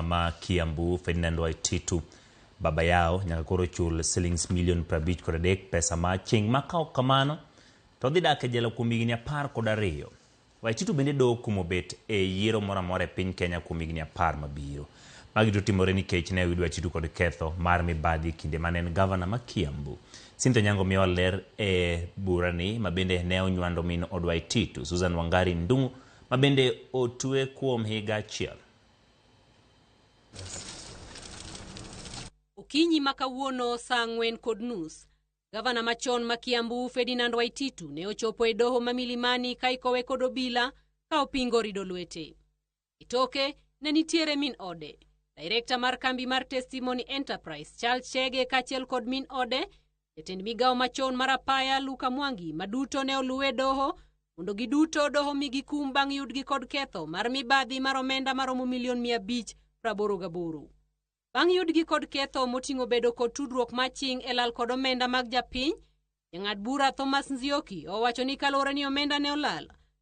ma Kiambu Ferdinand Waititu baba yao nyaka koro chul silings milion prabich kod adek pesa ma aching' ma ka ok kamano to odhi dak e jela kuom higni apar kod ariyo. Waititu bende dok kuom obet e yiero moro amora e piny Kenya kuom higni apar mabiro. Magi duto timore nikech ne oyud Waititu kod ketho mar mibadhi e kinde mane en gavana ma Kiambu. Cynthia Onyango miyowa ler e burani ma bende ne onywando min od Waititu, Susan Wangari Ndung'u ma bende otue kuom higa achiel. Okinyi ma kawuono sa ang'wen kod nus, gavana machon ma Kiambu Ferdinand Waititu ne ochopo e doho ma Milimani ka ikowe kod obila ka opingo rido lwete. E toke ne nitiere min ode, direkta mar kambi mar Testimony Enterprise Charles Chege kaachiel kod min ode Jatend migawo machon mar apaya Luka Mwangi ma duto ne oluwe doho mondo giduto doho mi gikum bang' yudgi kod ketho mar mibadhi mar omenda maromo milion mia abich praboro gaboro. Bang' yudgi kod ketho moting'o bedo kod tudruok maching e lal kod omenda mag japiny, jang'ad bura Thomas Nzioki owacho ni kaluwore ni omenda ne olal,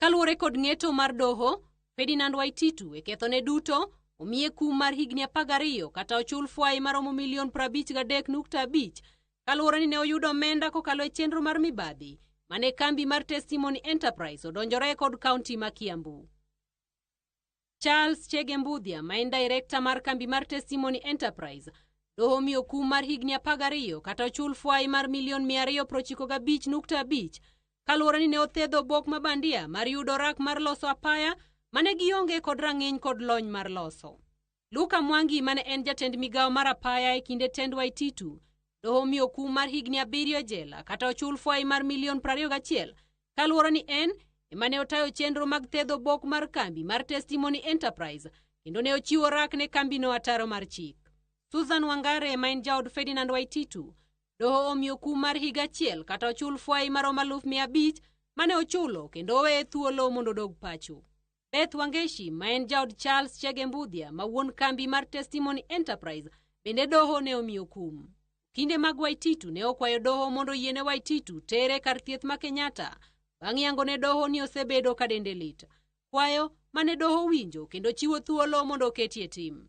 Kaluwore kod ng'eto mar doho, Ferdinand Waititu e kethone duto omiye kum mar higni 12 kata ochul fwai maromo milion 53.5 kaluwore ni ne oyudo omenda kokalo e chenro mar mibadhi mane kambi mar Testimony Enterprise odonjore kod kaunti ma Kiambu. Charles Chege Mbudhia ma en Director mar kambi mar Testimony Enterprise doho omiyo kum mar higni 12 kata ochul fwai mar milion 295.5 kaluwore ni ne othedho obok ma bandia mar yudo rak mar loso apaya mane gionge kod rang'iny kod lony mar loso. Luka Mwangi mane en jatend migawo mar apaya e kinde tend Waititu doho omiyo kum mar higni abiriyo e jela kata ochul fwai mar milion 21 kaluwore ni en ema ne otayo chenro mag thedho bok mar kambi mar Testimony Enterprise kendo ne ochiwo rak ne kambino ataro mar chik. Susan Wangare ma en jaod Ferdinand Waititu doho omiyo kum mar higa achiel kata ochul fwai marom aluf mia abich mane ochulo kendo oweye thuolo mondo odog pacho. Beth Wangeshi ma en jaod Charles Chege Mbudhia ma wuon kambi mar Testimony Enterprise bende doho ne omiyo kum. Kinde mag Waititu ne okwayo doho mondo oyiene Waititu tere kar thieth ma Kenyatta bang' yango ne doho ni osebedo ka dende lit. Kwayo mane doho winjo kendo chiwo thuolo mondo oketie tim.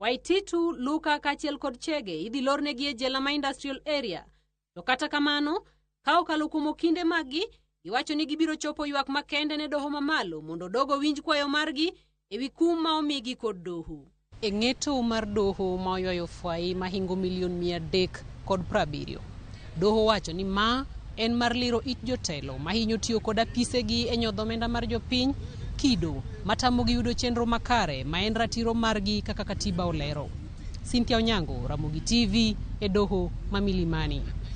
Waititu, Luka kaachiel kod Chege idhi lornegi e jela ma industrial area. To kata kamano, ka okalo kuom okinde maggi, giwacho ni gibiro chopo ywak makende ne doho mamalo mondo dogo winj kwayo margi ewi kum ma omigi kod doho. E ng'eto mar doho ma oywayo fwayi mahingo milion mia adek kod prabiriyo, Doho owacho ni ma en mar liro it jotelo mahinyo tiyo kod apisegi e nyodho omenda mar jopiny, kido matamogi yudo chenro makare ma en ratiro margi kaka katiba olero. Cynthia Onyango, Ramogi TV, e doho ma Milimani.